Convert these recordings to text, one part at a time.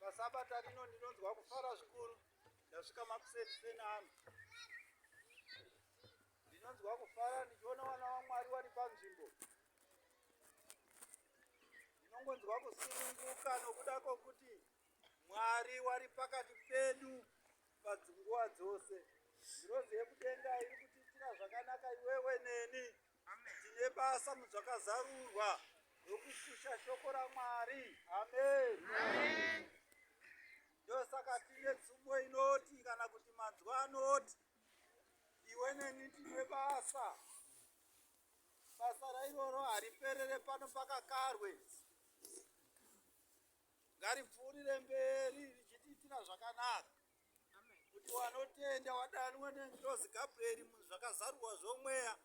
pasabata rino ndinonzwa kufara zvikuru ndasvika makuseni seni ano ndinonzwa kufara ndichiona vana vamwari vari panzvimbo ndinongonzwa kusununguka nokuda kwokuti mwari wari pakati pedu padzinguva dzose ngirozi yekudenga iri kutiitira zvakanaka iwewe neni Tine basa mudzvakazarurwa rokukusha shoko raMwari. Amen. Amen. Ndosaka tine tsumo inoti kana kuti manzwa anoti iwe neni tine basa. Basa rairoro hariperere pano pakakarwe. Ngaripfuurire mberi richitiitira zvakanaka. kuti wanotenda wadanwa nengirozi gabrieri muzvakazarurwa zvomweya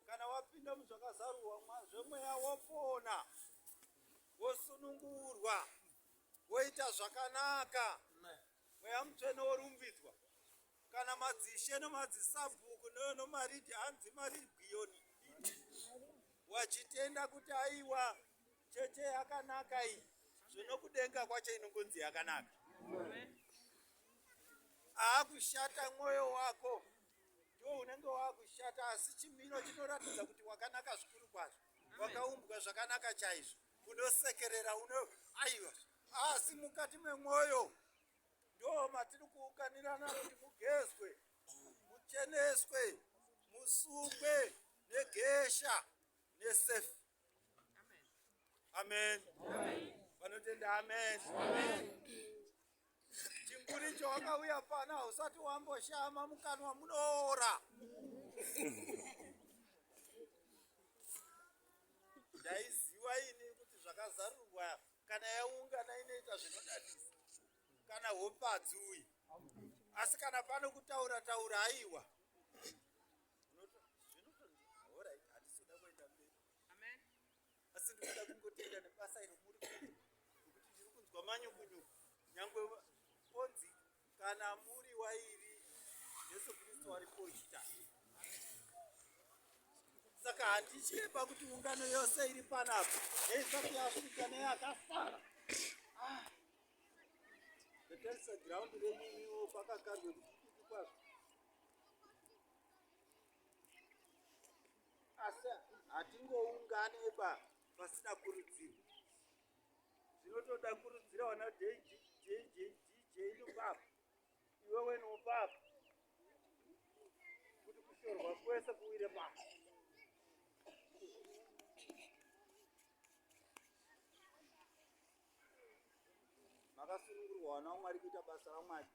kana wapinda muzvakazarurwa zvomweya wopona wosunungurwa woita zvakanaka mweya mutsvene worumbidzwa kana madzishe nemadzisabhuku nomaridi hanzi marigiyoni wachitenda kuti aiwa Cheche yakanaka iyi zvinokudenga kwacho inongonzi yakanaka. Aakushata mwoyo wako ndiwo unenge waakushata, asi chimiro chinoratidza kuti wakanaka zvikuru kwazvo, wakaumbwa zvakanaka chaizvo, unosekerera uno aiwa, asi mukati memwoyo ndo matiri kuunganirana kuti mugezwe, mucheneswe, musungwe negesha nesefi. amen vanotenda amen chimburicho wakauya pana hausati wamboshama mukanwa munoora ndaiziva ini kuti zvakazarurwa kana yaungana inoita zvinodadisa kana hopadzi uyu asi kana pano kutaura taura aiwa asi ndikuda kungotenda nebasa iro muri kuti nekuti ndiri kunzwa manyukunyuku nyangwe onzi kana muri wairi jesu kristu wari poita saka handitye pakuti ungano yose iri panapa neisati yasvika neyakasara ah. ndotarisa giraundi renyimiwo kwakakarwe kukuku kwazvo asi hatingoungani pa pasina kurudziro zvinotoda kurudzira wana dj dj dj nopapa iwewe nopapa kuti kushorwa kwese kuwire pasi makasunungurwa wana wamwari kuita basa ramwari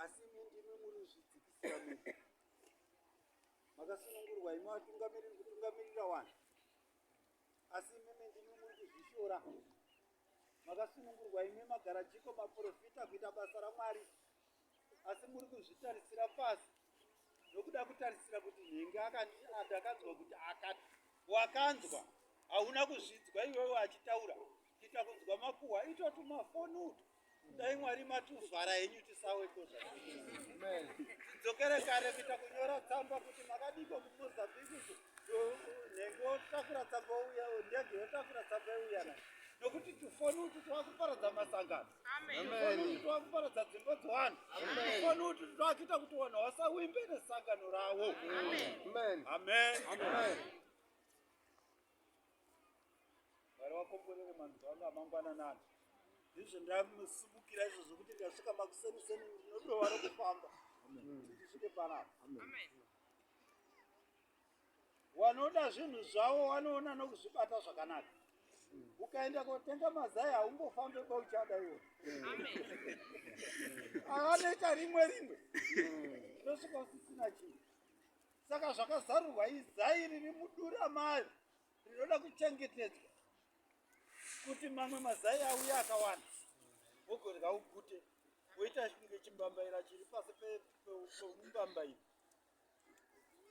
asi imi ndimi muri zvidzikisira mu makasunungurwa imi vatungamiriri kutungamirira vanhu asi imimi ndimi muri kuzvishora makasunungurwa imi magara jiko maprofita kuita basa ramwari asi muri kuzvitarisira pasi nokuda kutarisira kuti nhingi akandakanzwa kuti akati wakanzwa hauna kuzvidzwa iwewe achitaura kuita kunzwa makuhwa itotumafoni uto dai mwari matuvhara henyu tisaweko zvadzokere kare kuita kunyora tsamba kuti makadiko kumozambique nenge otakura tsamba ouya ndege yotakura tsamba youyana nokuti tufoni utu twakuparadza masangano tufoni utu twakuparadza dzimba dzevanhu tufoni utu twakuita kuti vanhu vasawimbe nesangano ravo amen, amen. amen. amen. amen. Mwari wakomborere manzwa anga amangwana nani ndizvo ndamusumukira izvo zvokuti ndasvika makuseni seni ndinodova rokufamba ndisvike panapa wanoda zvinhu zvavo wanoona nokuzvibata zvakanaka ukaenda kotenga mazai haungofambe kwauchada iwo avanoita rimwe rimwe ndosvika usisina chinhu saka zvakazarurwa izai riri mudura mayo rinoda kuchengetedzwa kuti mamwe mazai auya akawanda wogodya ugute woita kunge chimbambaira chiri pasi pemumbambaira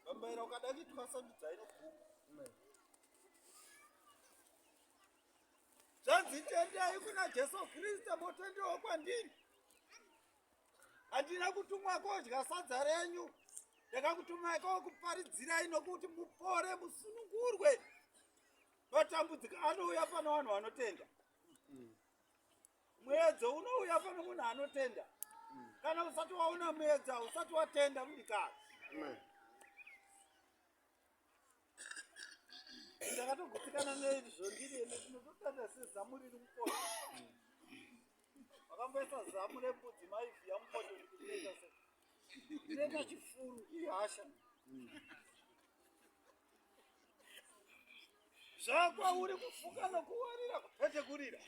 mbambaira ukada kuitwa sandudza inoguma zvanzi tendai kuna jesu kristu motendewo kwandiri handina kutumwa kodya sadza renyu ndakakutumai kokuparidzirai nokuti mupore musunungurwe matambudziko anouya pana vanhu vanotenda muedzo unouya pana munhu anotenda kana usati waona muedzo usati watenda mudikasi ndakatogutsikana neizvi zvondiri ende tinototanda sezamu riri mukona vakamboisa zamu rembudzi maivhiya mukoto ndikuita se ndinoita chifuru ihasha zvakwauri kufuka nokuwarira kupetekurira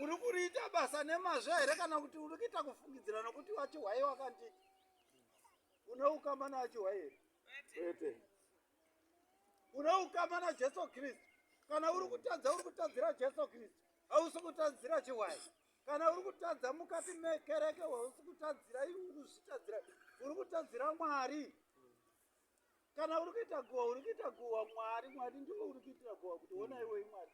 uri kuriita basa nemazvo here kana kuti uri kuita kufungidzira nokuti wachihwai wakanti une ukama nawachihwai here kwete une ukama najesu kristu kana uri kutadza uri kutadzira jesu kristu hausi kutadzira chihwai kana uri kutadza mukati mekereke hausi kutadzira iwe uri kuzvitadzira uri kutadzira mwari kana uri kuita guhwa uri kuita guhwa mwari mwari ndiwe uri kuitira guhwa kuti ona iwei mwari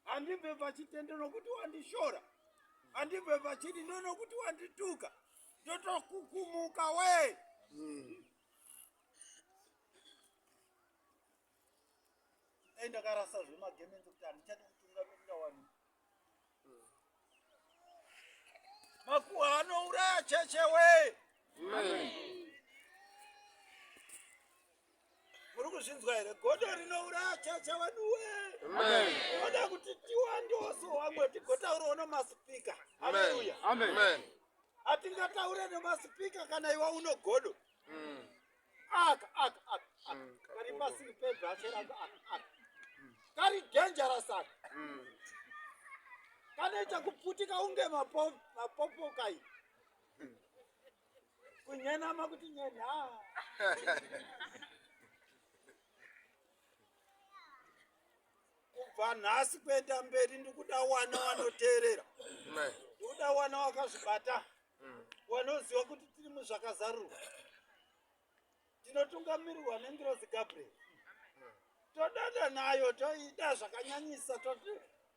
handibve pachitende nokuti wandishora handibve pachidi ndo nokuti wandituka ndotokukumuka wee mm. dai ndakarasa zvemagemenzi kuti handichadi kutungamirira wani makuwa anouraya cheche wee muri kuzvinzwa here godo rinouraya cheche wedu wee oda kuti tiwandoso wamwe tigotauraona masipika aleluya atingataure nemasipika kana iwa unogodo mm. aka aka aka kari pasiri pebhashe rangu aka aka kari dangerous aka kanoita kuputika unge mapopoka iyi kunyenama kuti nyena kubva nhasi kuenda mberi ndikuda wana wanoteerera ndikuda wana wakazvibata wanoziva kuti tiri muzvakazarurwa tinotungamirirwa nengirozi gabriel todada nayo toida zvakanyanyisa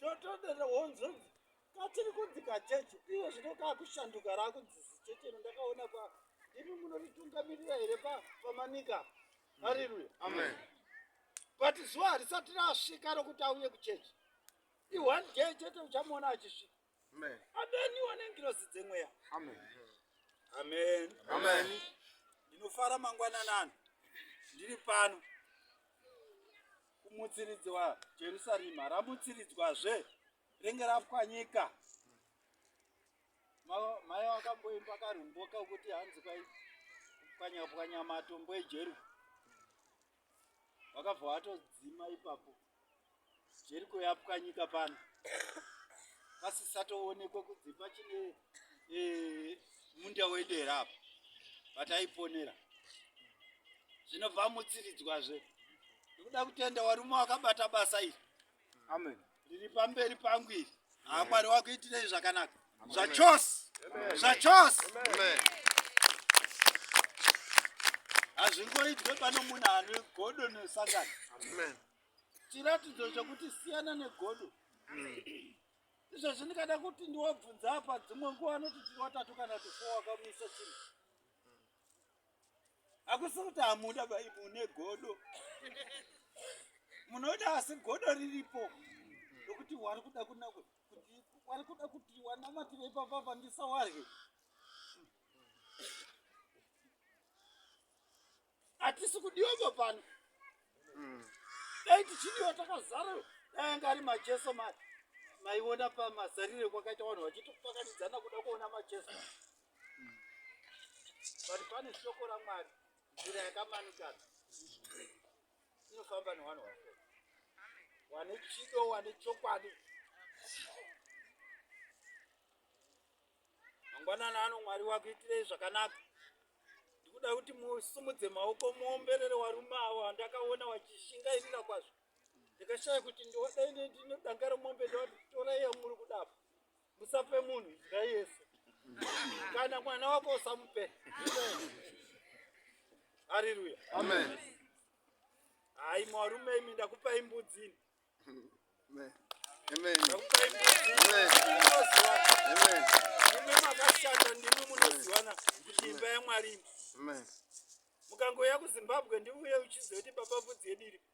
totodada honzo katiri kudzika chechi iwe zvino kaakushanduka raakudzizi chechi ino ndakaona pa ndimi munoritungamirira here pamanika hariruya amen but zuva harisati rasvika rokuti auye kuchechi ione day chete uchamuona achisvika adaniwa nengirozi dzemweya amen ndinofara mangwananani ndiri pano kumutsiridzwa jerusarema ramutsiridzwazve renge rapwanyika mai wakamboimba karumboka kuti hanzi kwai pwanyapwanya matombo ejeru vakabva vatodzima ipapo jeriko yapwanyika pano pasisatoonekwa kudzi pachine eh, munda wedera apo vataiponera zvinobva mutsiridzwazve nekuda kutenda warume wakabata basa iri Amen. Riri pamberi pangu iri. Ah Mwari wakuitirei zvakanaka. Zvachose. Zvachose. Amen. Hazvingoitwe pano munhu ane godo nesangano. Amen. Chiratidzo chokuti siyana negodo. Mm. Izvo zvindikada kuti ndiwabvunza apa dzimwe nguva anoti tiri watatu kana tufour wakamisa chinhu. akusi kuti hamuda bai mune godo munoda asi godo riripo rokuti wari kuda kuna kuti wari kuda kuti wanamatire ipapa pandisawarye hatisi kudiwavo pano hmm. dai tichidiwa takazara dai anga ari macheso mati maiona pamazarire kwakaita vanhu vachitopakanidzana kuda kuona macheso but pane shoko ramwari nzira yakamanikana inofamba nevanhu vako wane chido wane chokwadi mangwanana ano mwari wakuitirei zvakanaka ndikuda kuti musumudze maoko muomberere warume avo andakaona wachishingairira kwazvo ndikashaya kuti ndodai ndinodangara mombe ndovatorai yamuri kudapa Musape munhu nzira yese. Kana mwana wako usamupe. Hallelujah. Amen. Hayi mwarume imi ndakupa imbudzi. Amen. Amen. Ndakupa imbudzi. Amen. Amen. Ndimi makashanda ndimi munoziwana kuti imba yaMwari. Amen. Mukangouya kuZimbabwe ndiuye uchiziva kuti baba mbudzi yedu iri.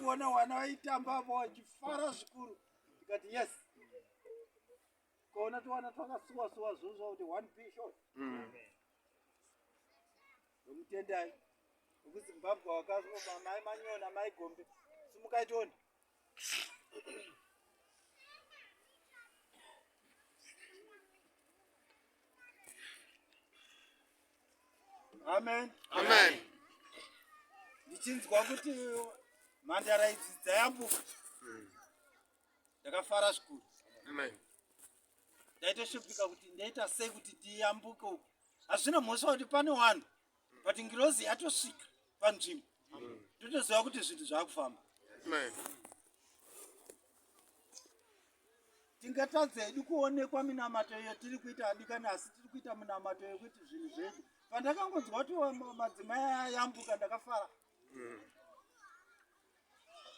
kuona vana vaitamba avo vachifara zvikuru tikati yes ukaona tiwana twakasuwa suwa zvozva kuti one p shot mm. ndomutendai wekuzimbabwe wakazoba mai manyona mai gombe simukai tione amen amen ndichinzwa kuti mhandara idzi dzayambuka hmm. ndakafara zvikuru amen ndaitoshupika kuti ndaita sei kuti tiyambuke uku hazvina mhosva kuti pane wanhu but ngirozi yatosvika panzvimbo ndotoziva kuti zvinhu zvaakufamba tingatadza hedu kuonekwa minamato iyo tiri kuita adikani asi tiri kuita minamato yekuti zvinhu zvedu pandakangonzwa kuti madzimai ayambuka ndakafara mm.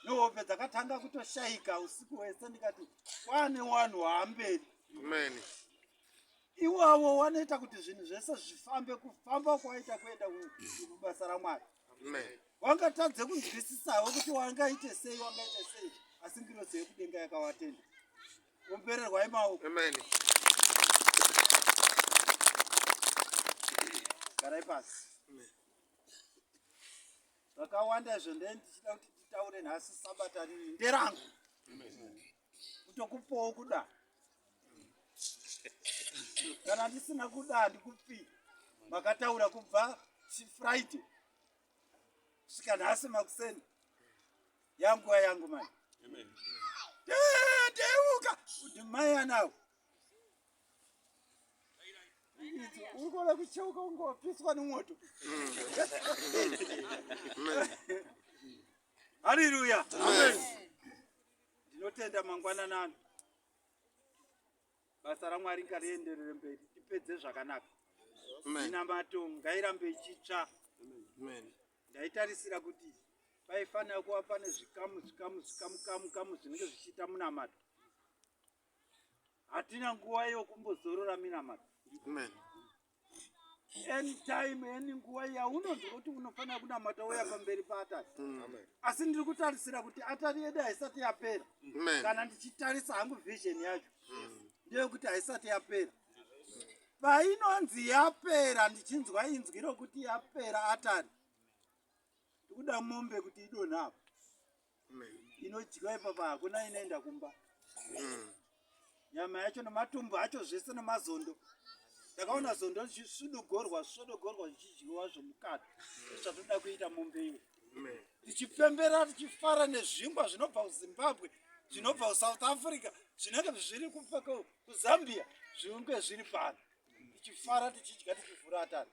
nehope dzakatanga kutoshayika usiku hwese ndikati kwane wanhu waamberi mani iwavo wanoita kuti zvinhu zvese zvifambe kufamba kwaita kuenda kubasa ramwari wangatadze kunzwisisawo kuti wangaite sei wangaite sei asi ngirozi yekudenga yakawatenda umpererwai maoko garai pasi zvakawanda izvo ndee ndichida kuti nditaure nhasi sabata riri nderangu kutokupawo kuda kana ndisina kuda handikupi makataura kubva chifriday kusvika nhasi makuseni yanguva yangu mai teuka kuti mai anawo uri kuona kucheuka ungopiswa nemwoto haleluya Ndinotenda mangwananano. Basa raMwari ngarienderere mberi. Tipedze zvakanaka. Minamato ngairambe ichitsva. Ndaitarisira kuti paifanira kuva pane zvikamu zvikamu zvikamu kamu kamu zvinenge zvichiita munamato. Hatina nguva yokumbozorora minamato. Amen. anytime any nguva yaunonzwa kuti unofanira kunamata uya pamberi paatari mm. asi ndiri kutarisira kuti atari yedu haisati yapera kana ndichitarisa hangu vision yacho mm. ndeyekuti haisati yapera painonzi yapera ndichinzwa inzwi rokuti yapera atari ndikuda mombe kuti idonhapo inodyiwa ipapa hakuna inoenda kumba mm. nyama yacho nematumbu acho zvese nemazondo ndakaona zondo zvisudogorwa zvisudogorwa zvichidyiwa zvomukati zvatoda kuita mombe iwe tichipembera tichifara nezvingwa zvinobva kuzimbabwe zvinobva kusouth africa zvinenge zviri kuzambia zvinge zviri pano tichifara tichidya tichivhura atari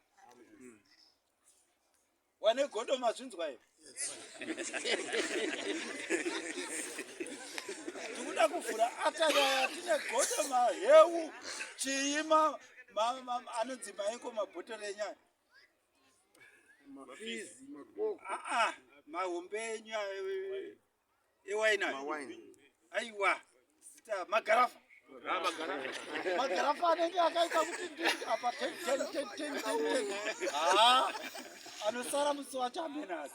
wane godo mazvinzwa here tikuda kuvhura atayaya tine godo maheu chii anonzi maiko mabhotoro enyaya mahombe enyaya ewaini aiwa magarafa magarafa anenge akaita kuti ndii apa anosara musi wacho amenazi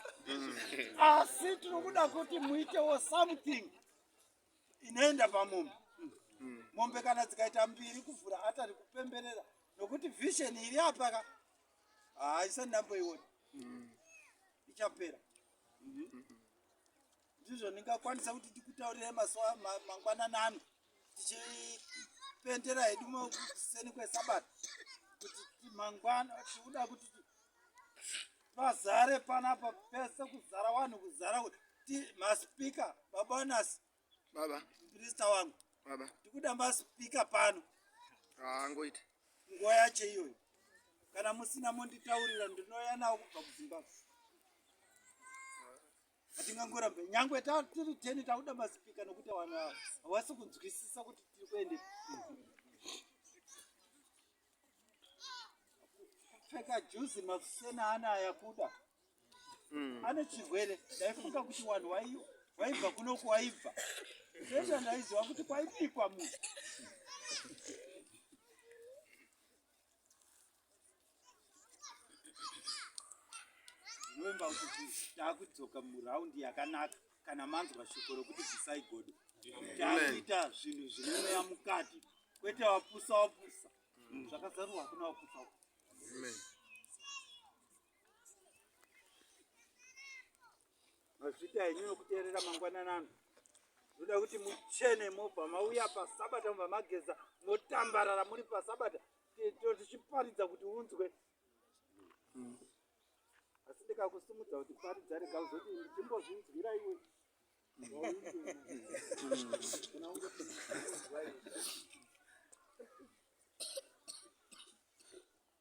asi tinokuda kuti muitewo something inoenda pamombe mombe kana dzikaita mbiri kuvhura atari kupemberera nokuti vision iri apaka haisati ndamboiona ichapera ndizvo ndingakwanisa kuti ndikutaurire mazuva mangwanani ano tichipendera hedu kuseni kwesabata kuti mangwana tiuda kuti pazare panapa pese kuzara vanhu kuzara kuti maspika babanas baba minista wangu baba ndikuda maspika pano haangoiti ah, nguva yacho iyoyo kana musina monditaurira ndinouya nawo kubva kuzimbabwe hatingangorambe nyangwe tatiri teni takuda maspika nokuti vanhu hawasi kunzwisisa kuti tiri kuende kupfeka juzi makusena ana ayakuda mm. ane chirwere ndaifunga kuti wanhu waibva kunoku waibva sesa ndaiziva kuti kwaibikwa munhu novemba kuti taakudzoka muraundi yakanaka kana manzwa shoko rokuti bvisai godo takuita zvinhu zvine mweya mukati kwete wapusa wapusa mm. zvakazarurwa hakuna wapusa mazvita henyu nokuteerera mangwananano zvoda kuti muchene mobva mauya pasabata mubva mageza motambarara muri pasabata tichiparidza kuti unzwe mm. asi ndikakusimudza kuti pari dzarega uzoti ndichimbozvinzwira iwe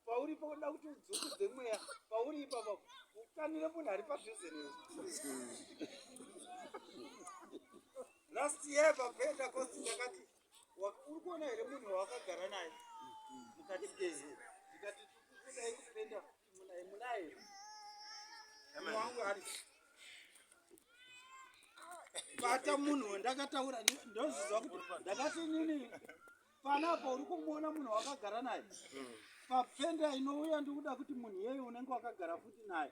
pauri pakuda kuti udzungudze mweya pauri ipapa ukanire munhu ari padhuze newe last year pakuenda kosi ndakati uri kuona here munhu wawakagara naye mukati gezi ndikati tikudai kupenda kuti munaye munaye munhu wangu ari bata munhu wandakataura ndozviziva kuti ndakati nini panapo uri kumuona munhu wakagara naye papfenda inouya ndikuda kuti munhu iyeyo unenge wakagara futi naye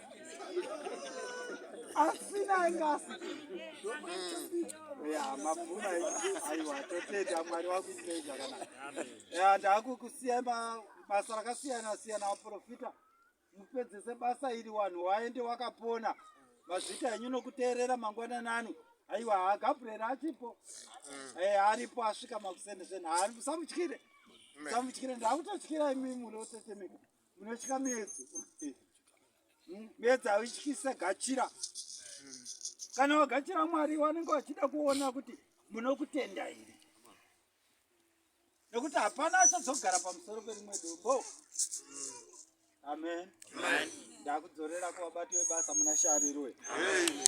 asina engasi ya mabvuma aiwa totenda mwari wakuitei zvakanaka ya ndakukusiya basa rakasiyana siyana vaprofita mupedzese basa iri wanhu waende wakapona mazvita henyu nokuteerera mangwana nani aiwa ha gabriel achipo eh, aripo asvika makusende zvenhari musamutyire musamutyire ndakutotyira imi munotetemeka Unotya medzi. Hmm? Medzi hautyisa gachira. Kana wagachira Mwari wanenge wachida kuona kuti munokutenda here. Nekuti hapana achazogara pamusoro perimwe dombo. Amen. Amen. Ndakudzorera kuvabati vebasa muna Sharirwe. Amen.